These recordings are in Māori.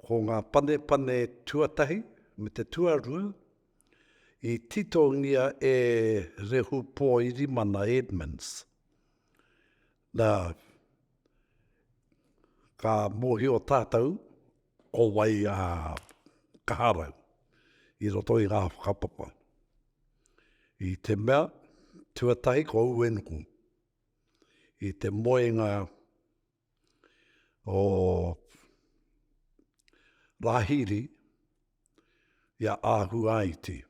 Ko ngā panepane tuatahi me te tuarua i titongia e Rehu Pōirimana Edmonds, nā, ka mōhio tātou ko wai a Kaharau i roto i ngā whakapapa. I te mea, tuatahi ko Uenuku, i te moenga o Rahiri i a Ahuaiti.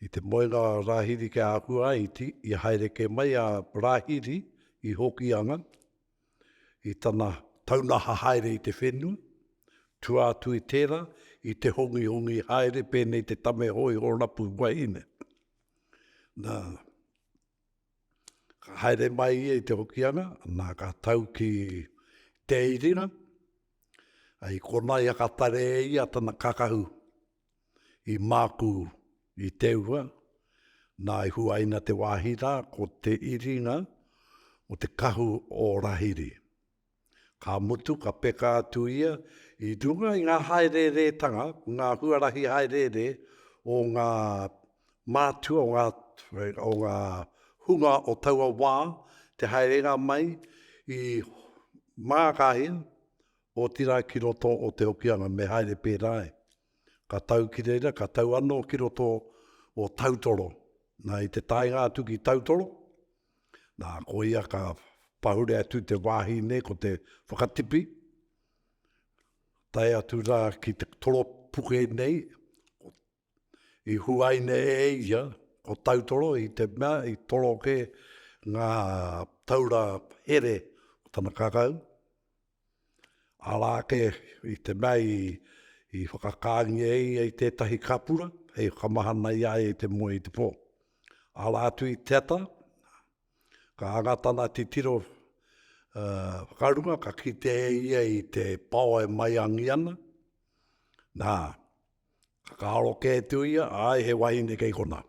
I te moenga a Rahiri ki a Ahuaiti, i haere kē mai a Rahiri i Hokianga, i tana taunaha haere i te whenua, tua atu i tērā, i te hongihongi haere pēnei te tame hōiho rapu wahine. Nā. Ka haere mai ia i Te Hokianga, nā ka tau ki Te Irina, ai kona ia ka tare e ia tana kakahu i māku i Teua, nā i huaina te wāhi rā ko Te Iringa o te kahu o Rahiri. Ka mutu ka peka atu ia i runga i ngā hāereeretanga, ngā huarahi hāereere o ngā mātua, o ngā hunga o taua wā, te haerenga mai i Māngakāhia, otirā ki roto o Te Hokianga, me haere pērā ai. Ka tau ki reira, ka tau anō ki roto o Tautoro. Na, i te taenga atu ki Tautoro, Nā, koia ka pahure atu te wāhi nei ko te whakatipi, tae atu rā ki te toropuke nei, i huaina e ia ko Tautoro i te mea i toroke ngā taura here o tana kakau, Arā ake i te mea i whakakāngia e ia i tētahi kapura hei whakamahana i a ia i te moe i te pō. Arā atu i te ata, ka anga tana titiro whakarunga, ka kite e ia i te pao e maiangi ana, nā, ka karo kē atu ia, āe, he wahine kei konā.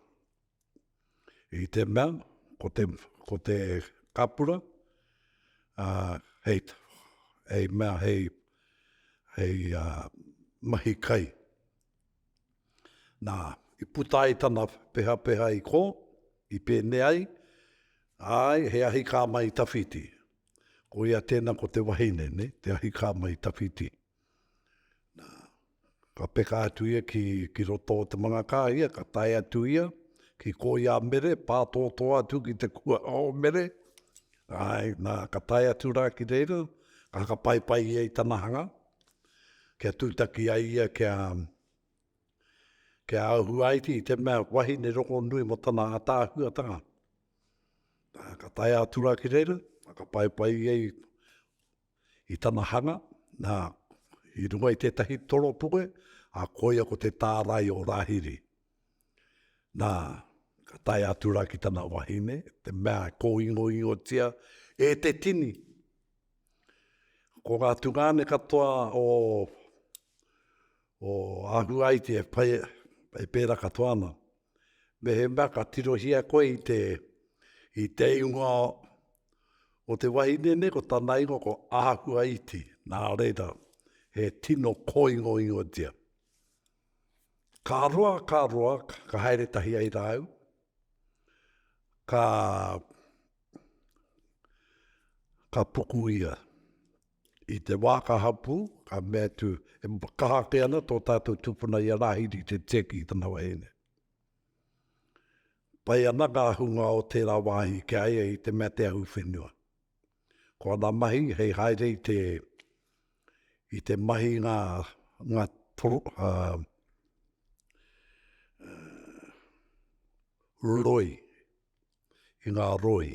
i te mea, ko te, ko te kapura, a, hei, hei mea, hei, hei a, mahi kai. Nā, i puta ai tana pehapeha i kō, i pēnei ai, āe, he ahikā mai i tawhiti. Koia tēnā ko te wahine, nē, te ahikā mai i tawhiti. Nā, ka peka atu ia ki, ki roto o te mangakā ia, ka tae atu ia ki Koiamere, pātōtō atu ki te kua o Mere, āe, nā, ka tae atu rā ki reira, ka hakapaipai ia i tana hanga, kia tūtaki ai ia kia, kia ahuaiti i te mea wahine rongonui mō tana ātaahuatanga. Nā, ka tae atu rā ki reira, hakapaipai ia i. I tana hanga, nā, i runga i tētahi toropuke, ā, koia ko te tārai o Rāhiri. Nā, ka tae atu rā ki tana wahine, te mea e kōingoingotia e te tini. Ko ngā tungāne katoa o, o Ahuaiti e whai, e pērā katoa ana. Mehemea ka tirohia koe i te, i te ingoa o te wahine nei, ko tana ingoa ko Ahuaiti, nā reira, he tino kōingoingotia. Ka roa, ka roa, ka haere tahi ai rāu, ka, ka puku ia. I te wā ka hapū, ka mea atu, e kaha ake ana tō tātou tupuna i a Rāhiri Te Tiaki i tana wahine. Pai ana ngā hunga o tērā wāhi ki a ia i te mea te ahu whenua. Ko ana mahi hei haere i te, i te mahi i ngā, ngā toro, uh, roi, i ngā roi.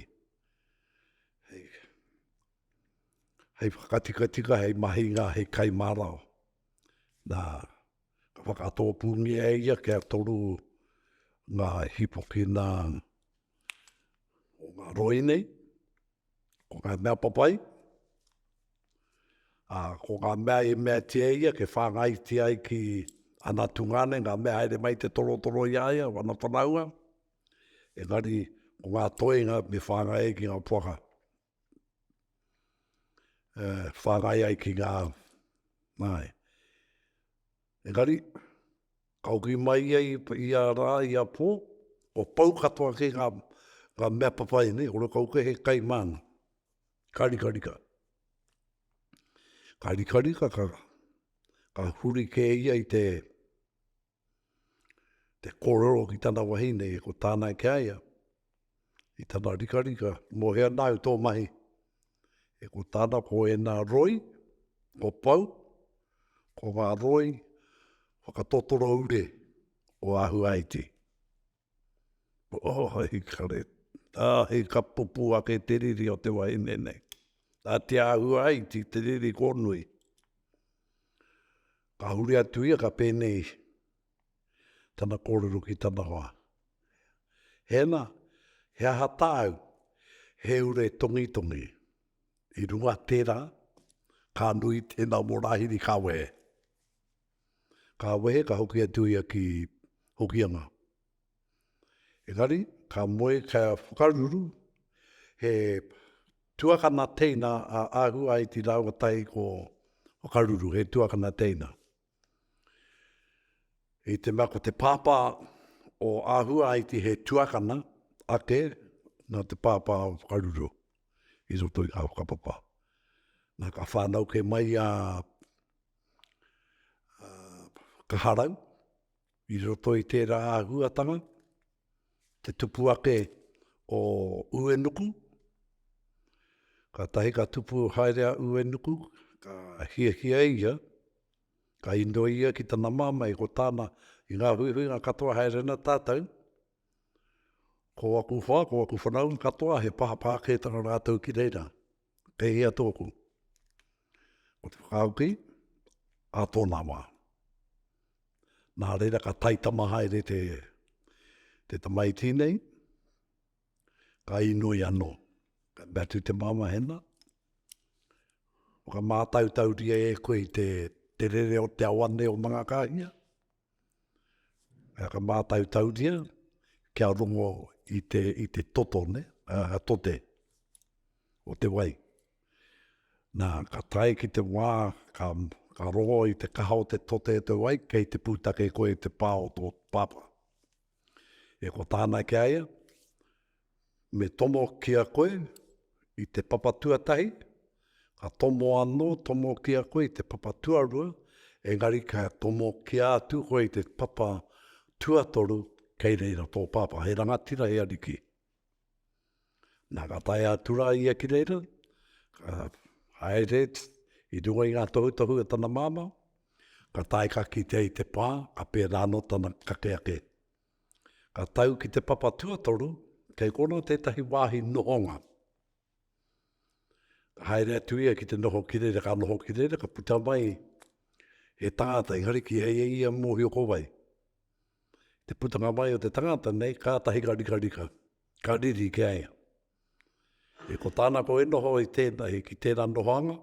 hei whakatikatika, hei mahinga, hei kai marao. Nā, ka whakatōpūngia e ia kia toru ngā hīpoki nā o ngā roi nei, ko ngā mea papai, a, ko ngā mea i mea tia ia, ke whāngai tia ai ki ana tungāne, ngā mea haere mai te torotoro i a ia, wana whanaunga, engari, ko ngā toenga me whāngai ai ki ngā poaka. uh, whāngai ai ki ngā māi. Engari, kauki mai ia i, i a rā, i a pō, o pau katoa ki ngā, ngā mea papai nei, o rokau ke he kai māna. Karikarika. Karikarika ka, ka huri kē ia i te, te kōrero ki tana wahine, ko tāna ki a ia, i tana rikarika, mō hea nāu tō mahi, e ko tāna ko ēnā roi, ko pau, ko ngā roi whakatotoro ure o Ahuaiti. Oh, hei kare, ā, hei ka pupū ake te riri o te wahine nei. Ā, te āhua ai ki te riri kōnui. Ka huri atu ia, ka pēnei tana kōrero ki tana hoa, Hēna, he aha tāu? He ure tongitongi. I runga tērā, ka nui tēnā mō Rāhiri, ka wehe. Ka wehe ka hoki atu ia ki Hokianga. Engari, ka moe kia whakaruru he tuakana teina a Ahuaiti rāua tahi ko Whakaruru, he tuakana teina. I te mea ko te pāpā o Ahuaiti he tuakana ake nā te pāpā o Whakaruru i roto i ngā whakapapa. Nā, ka whānau kē mai a kaharau, i roto i tērā āhuatanga, te tupu ake o Uenuku, kātahi ka tupu haere a Uenuku, ka hiahia ia, ka inoi ia ki tana māmā i ko tāna, i ngā huihuinga katoa haere ana tātou, ko aku hoa, ko aku whanaunga katoa he pāpā kētanga rātou ki reira. Kei hea tōku? Ko te whakauki, a tōna wā. Nā reira ka taitama haere te, te tamaiti nei, ka inoi anō. Ka mea tu te māma hena, whakamātautauria e koe te, te rere o te awane o Mangakāhia, Ā, ka mātautauria kia rongo i te, i te toto, nē, ā, tote o te wai. Nā, ka tae ki te wā, ka, ka rongo i te kaha o te tote o te wai, kei te pūtake koe i te pā o tō pāpā. E ko tāna ki a ia, Me tomo ki a koe i te papa tuatahi, ka tomo anō tomo ki a koe i te papa tuarua, engari ka tomo ki a atu koe i te papa tuatoru, kei reira tō pāpā. He rangatira, he ariki. Nā, ka tae a Tura ia ki reira, ka haere i runga i ngā tohutohu a tana māmā, ka tae ka kitea i te pā, ka pērā anō tana kake ake. Ka tau ki te papa tuatoru, kei konā tētahi wāhi nohonga. Ka haere atu ia ki te noho ki reira, ka noho ki reira, ka puta mai he tangata, engari ki hei e ia mōhio ko wai. Te putanga mai o te tangata nei, ka tahi ka rika rika, ka riri ki aia. E ko tāna ko e noho i tēnei, ki tērā nohoanga,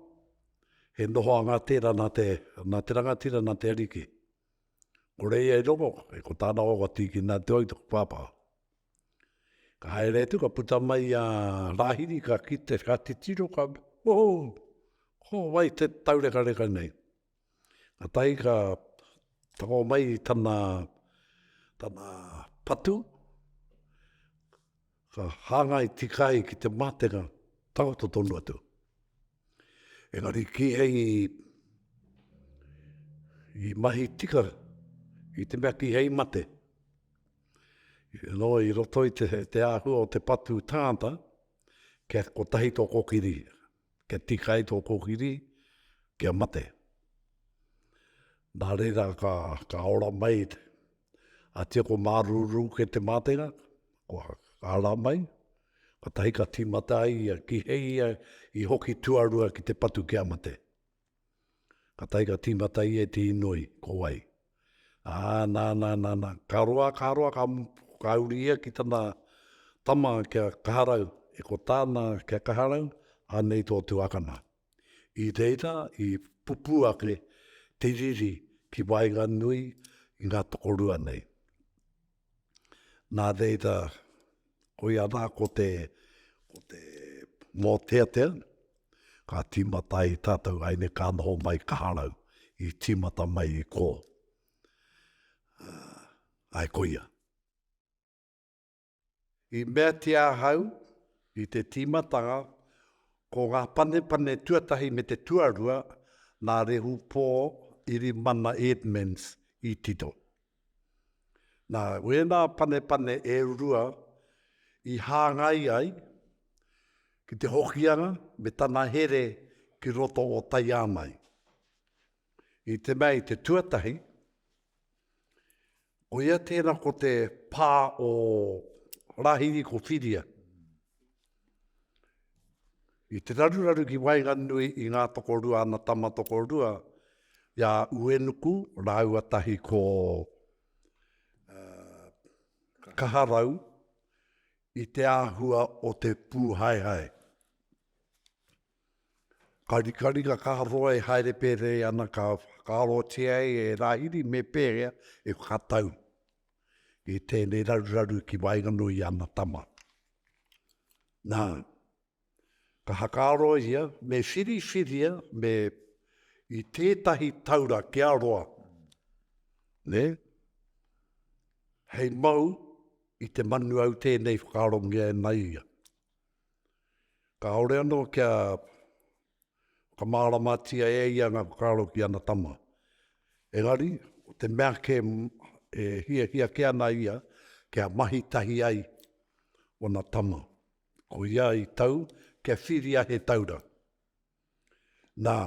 he nohoanga tērā nā te, nā te rangatira, nā te ariki. Ko reia i rongo, e ko tāna o ka tīkina atu au te pāpā. Ka haere atu, ka puta mai a Rahiri, ka kite, ka titiro, ka, oh, ko wai te taurekareka nei. Ka tahi ka tango mai tana, tana patu, ka hāngai tikai ki te mātenga, takoto tonu atu. Engari ki hei, i mahi tika, i te mea ki hei mate. Nō i roto i te āhua o te patu tāngata, kia kotahi tō kōkiri, kia tika ai tō kōkiri, kia mate. Nā reira ka, ka ora mai, a tia ko mārūrū ke te mātenga, ko ara mai, kotahi ka tīmata ai, ki hei i hoki tuarua ki te patu kia mate. Ka tae ka tīmata ia i te inoi, ko wai? Ā, nā, nā, nā, nā, ka roa, ka roa, ka mutu, ka uri ia ki tana tama kia kaharau, e ko tāna kia kaharau, anei tō tuakana. I reira i pupū ake te riri ki waenganui i ngā tokorua nei. Nā reira, koia rā ko te, ko te mōteatea, ka tīmata ai tātou haere ka noho mai Kaharau, i tīmata mai i kō. Āe koia. I meatia ahau i te tīmatanga, ko ngā panepane tuatahi me te tuarua, nā Rehu Pō Irimana Edmonds i tito. Nā wēnā panepane e rua i hāngai ai ki te Hokianga me tana here ki roto o Taiāmai. I te mea i te tuatahi, koia tēnā ko te pā o Rāhiri ko Whiria. I te raruraru ki waenganui i ngā tokorua ana tama tokorua, i a Uenuku rāua tahi ko uh, Kaharau, i te āhua o te pūhaehae. Ka rikaringa ka roa e haere pērei ana ka whakaarotia ai e Rāhiri me pēhea e whakatau i tēnei raruraru ki waenganui i ana tama. Nā, ka hakaaro ia me whiriwhiria me i tētahi taura kia roa, ne? hei mau i te manu au tēnei whakaarongia e Maia. Kāore anō kia whakamāramatia e ia ngā whakaaro ki ana tama. Engari, ko te mea kē e hiahia kē ana ia kia mahi tahi ai ōna tama, ko ia i tau kia whiria he taura. Nā,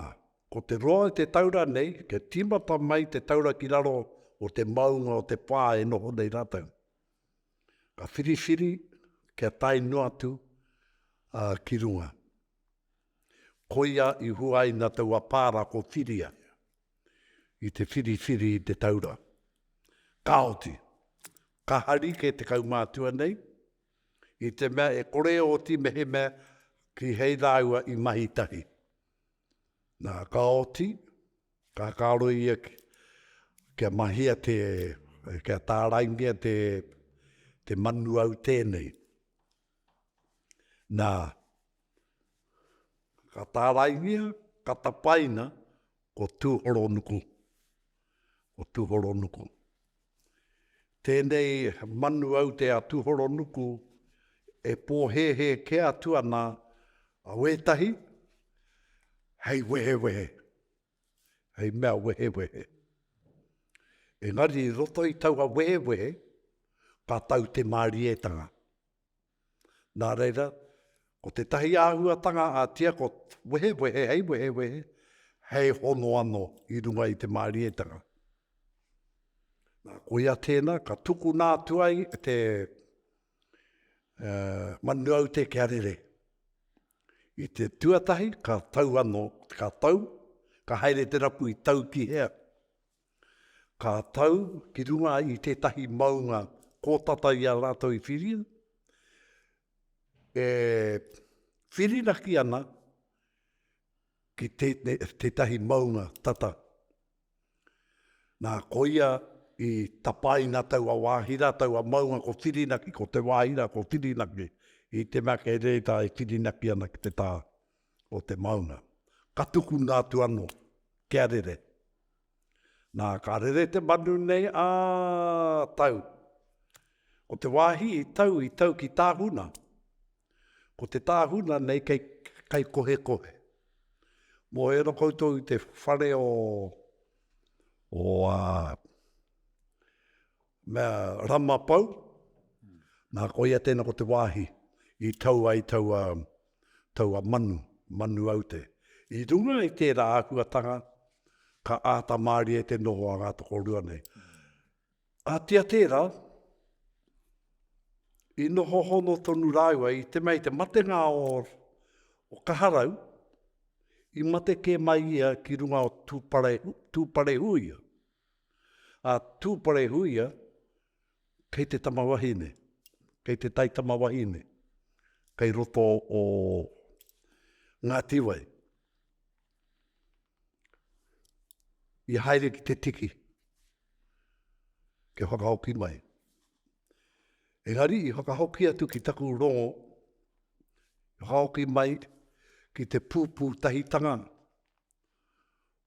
ko te roa i te taura nei, kia tīmata mai te taura ki raro o te maunga o te pā e noho nei rātou. Ka whiriwhiri kia tae noa atu a, ki runga. Koia i huaina taua pā rā ko Whiria i te whiriwhiri i te taura. Kāoti, ka hari kē te kaumātua nei, I te mea e kore oti mehemea ki hei rāua i mahi tahi. Nā, ka oti, ka kāro ia ki, kia mahia te, kia tāraingia te, te manu au tēnei. Nā, Ka tāraingia, ka tapaina ko Tūhoronuku, ko Tūhoronuku. Tēnei manu aute a Tūhoronuku e pōhēhē kē atu ana a wētahi hei wehewehe, hei mea wehewehe. Engari i roto i taua wehewehe, ka tau te mārietanga. Nā reira, ko tētahi āhuatanga ā-tia ko wehewehe hei wehewehe, hei hono anō i runga i te mārietanga. Nā, koia tēnā, ka tukuna atu ai te manu aute kia rere. I te tuatahi, ka tau anō, ka tau, ka haere te rapu i tau ki hea. Ka tau ki runga i tētahi maunga kōtata i a rātou i whiria, e whirinaki ana ki tētahi maunga tata. Nā, koia i tapaina taua wāhi rā, taua maunga ko Whirinaki, ko te wāhi rā ko Whirinaki, i te mea kei reira e whirinaki ana ki te tā. o te maunga. Ka tukuna atu ano kia rere. Na, ka rere te manu nei a tau. Ko te wahi i tau, i tau ki Tahuna. Ko te Tahuna nei kei, kei Kohekohe. Mo ero koutou i te whare o, o a, Me Ramapau, nā koia tēnā ko te wāhi i tau ai taua, taua manu, manu aute. I runga i tērā āhuatanga, ka āta mārie te noho a ngā tokorua nei. Ahatia tērā, i noho hono tonu rāua i te mea i te matenga o, o Kaharau, i mate kē mai ia ki runga o Tūparehu, Tūparehuia. A Tūparehuia, kei te tama wahine, kei te taitama wahine, kei roto o Ngātiwai. I haere ki te tiki, kia whakahoki mai. Engari i whakahoki atu ki taku rongo, whakahoki mai ki te pūpūtahitanga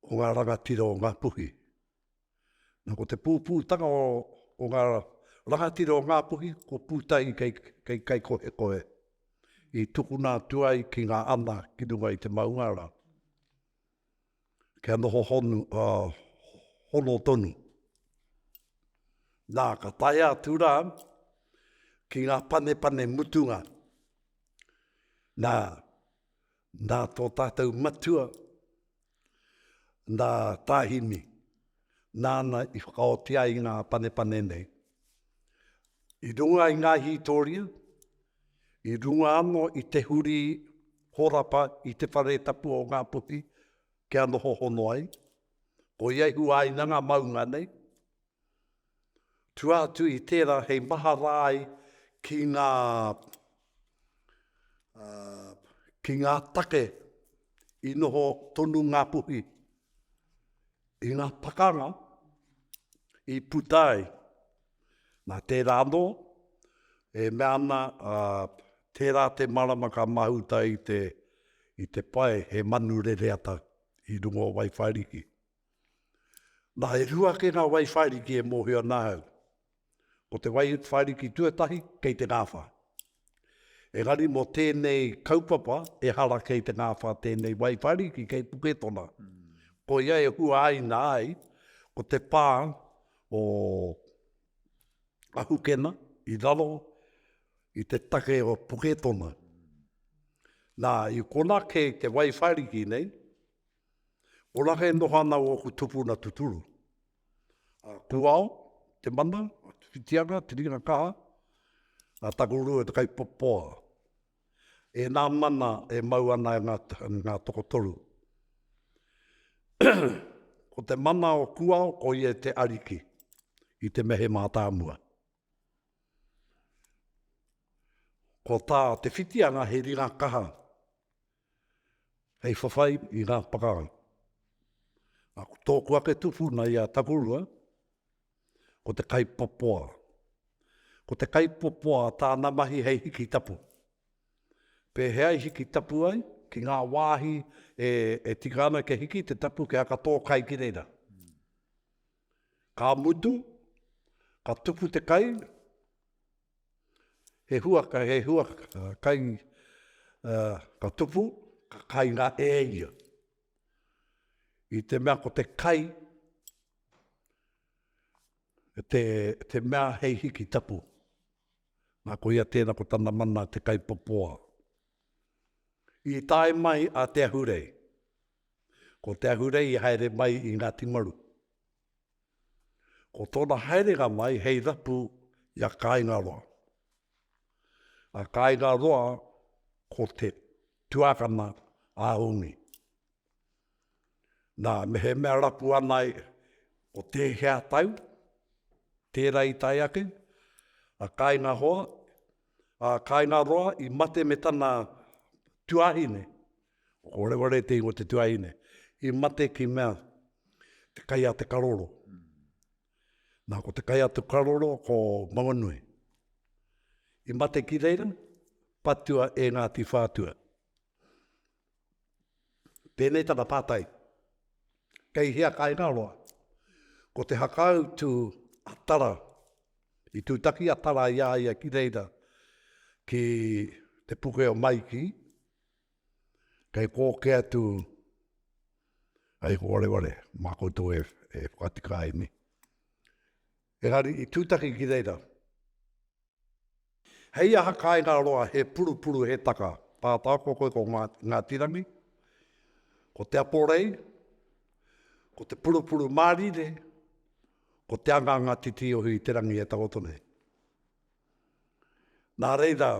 o ngā rangatira o Ngāpuhi. Nā, ko te pūpūtanga o, o ngā rangatira o Ngāpuhi, ko Pūtahi kei, kei Kaikohekohe, i tukuna atu ai ki ngā ana ki runga i te maungara, kia noho honu, uh, hono tonu. Nā, ka tae atu rā ki ngā panepane mutunga. Nā, Nā tō tātou matua, nā Tāhimi, nāna i whakaoti ai ngā panepane nei. I runga i ngā hītoria, i runga anō i te huri horapa i te whare tapu o Ngā Puhi kia noho hono ai, ko ia i huaina ngā maunga nei, Tua atu i tērā hei mahara ai ki ngā, ā, ki ngā take i noho tonu Ngāpuhi i ngā pakanga i puta ai. Nā tērā anō, e mea ana, ā, tērā te marama ka mahuta i te, i te pae he manu rereata i runga o Waiwhariki. Nā, e rua ake ngā wai whairiki e mōhio ana au. Ko te wai whairiki tuatahi, kei te ngāwhā. Engari mō tēnei kaupapa, e hara kei te ngāwhā tēnei wai whairiki kei Puketona. Ko ia e hua aina ai, ko te pā o Ahukena i raro i te take o Puketona. Nā, i konā kei te wai whairiki nei, Orake e noho ana oku tupuna tuturu, a Kuao, te mana, a Tuwhitianga, te ringa kaha, a Takurua, te kaipopoa. Ena mana e mau ana e nga, nga tokotoru. ko te mana o Kuao, ko ia te ariki i te mehe matamua. Ko ta Te Whitianga he ringa kaha, Hei whawhai i ngā whakaaro. Nā, ko tōku ake tupuna i a Takurua, ko te kaipopoa. Ko te kaipopoa tāna mahi hei hiki tapu. Pēhea i hiki tapu ai ki ngā wāhi e, e tika ana kia hiki te tapu kia aka tō kai ki reira. Ka mutu, ka tupu te kai, He huaka, he huaka, kai ka tupu, ka kai ngā e ia. I te mea ko te kai, te, te mea hei hiki tapu. Nā ko ia tēnā ko tana mana te kai popoa. I tae mai a Te Ahurei. Ko Te Ahurei i haere mai i Ngāti Maru. Ko tōna haerenga mai hei rapu i a Kāingaroa. A Kāingaroa ko te tuakana a Ungi. Nā, mehemea rapu ana e, ko tēhea tau, tērā i tae ake, a Kāingahoa, a Kāingaroa i mate me tana tuahine, Ko Rewareti o te tuahine i mate ki mea te kai a te karoro. Na ko te kai a te karoro ko Maunganui. I mate ki reira patua e Ngati Whatua. Tenei tana patai, kei hea kaingaroa? Ko te hakau tu a Tara, i tutaki a Tara i a ia ki reira ki te puke o Maiki, Kei kō ke atu, ai ko wareware, mā koutou e whakatika ai nei. Engari i tūtaki ki reira, hei aha kāinga roa he purupuru he taka, tātā ko koe ko Ngāti Rangi, ko Te Aporei, ko te purupuru mārire, ko te anganga titiohi i te rangi e takoto nei. Nā reira,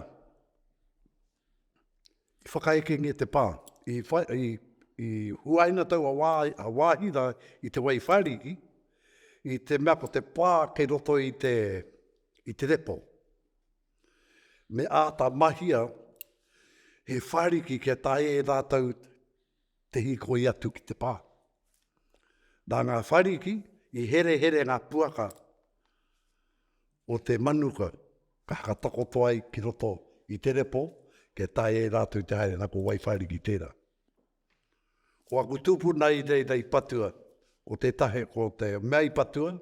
I whakaekengia te pā. I whai, i huaina taua wā, a Wāhira i te wai whāriki, i te mea ko te pā kei roto i te, i te repo. Me āta mahia he whāriki kia tae e rātou te hīkoi atu ki te pā. Nā ngā whariki i herehere ngā puaka o te manuka ka hakatakoto ai ki roto i te repo kia tae e rātou te haere, nā ko Waiwhariki tērā. Ko aku tūpuna i reira i patua, ko te tahe, ko te mea i patua,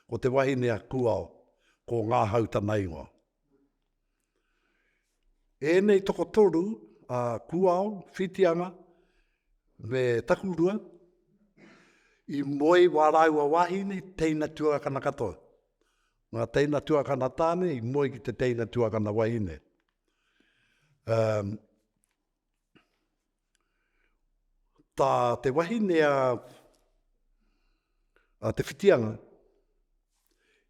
ko te wahine a Kuao, ko Ngāhau tana ingoa. Ēnei tokotoru a Kuao, Whitianga me Takurua i moe wā rāua wāhine teina tuakana katoa. Ngā teina tuakana tāne i moe ki te teina tuakana wahine. Um, Tā te wahine a, a Te Whitianga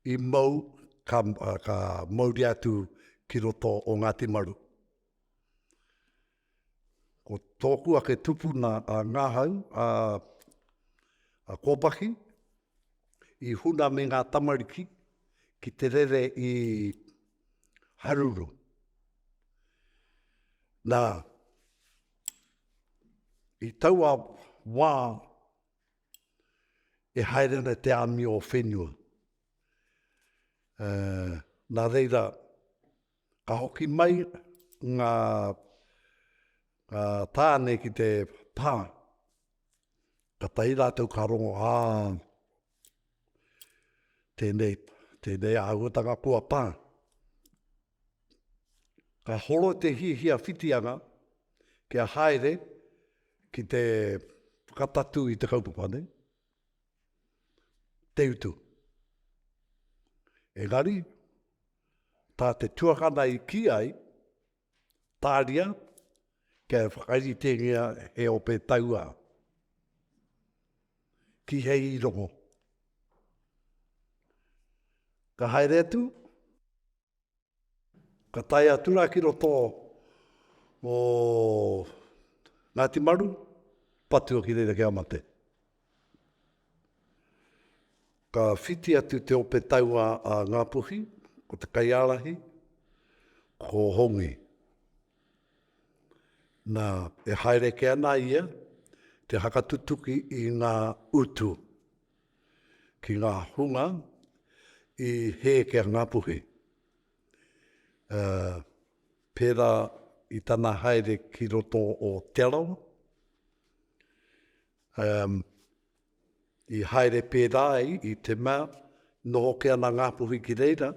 i mau, ka, ka mauri atu ki roto o Ngāti Maru. Ko tōku ake tupuna a Ngāhau, a, a Kōpaki, i huna me ngā tamariki ki te rere i Haruru. Nā, i taua wā e haere ana te āmi o whenua. Uh, nā reira, ka hoki mai ngā, ngā tāne ki te pā. Ka tahi rātou ka rongo, ā, Tēnei, tēnei āhuatanga kua pā. Ka horo te hiahia whitianga kia haere ki te whakapatu i te kaupapa nei, te utu. Engari, tā te tuakana i ki ai, Tāria, kia whakaritengia he ope tauā. Kīhei i rongo. Ka haere atu, ka tae atu rā ki roto o Ngāti Maru, patua ki reira ki a mate. Ka whiti atu te ope taua a Ngāpuhi, ko te kaiārahi, ko Hongi. Nā, e haere kē ana ia te hakatutuki i ngā utu ki ngā hunga i hē ki a Ngāpuhi. Pērā i tana haere ki roto o Te Arawa, i haere pērā ai i te mea, noho kē ana Ngāpuhi ki reira,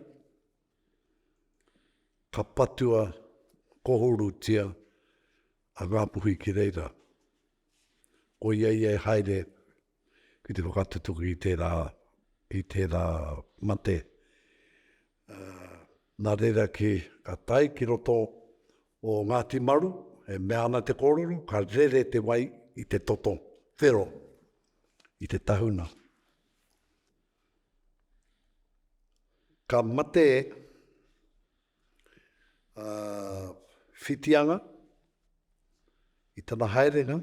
ka patua kohorutia a Ngāpuhi ki reira. Koia ia e haere ki te whakatutuki i tērā, i tērā mate. Nā reira kē, ka tae ki roto o Ngāti Maru, e mea ana te kōrero, ka rere te wai i te toto whero, i te tahuna. Ka mate a Whitianga i tana haerenga.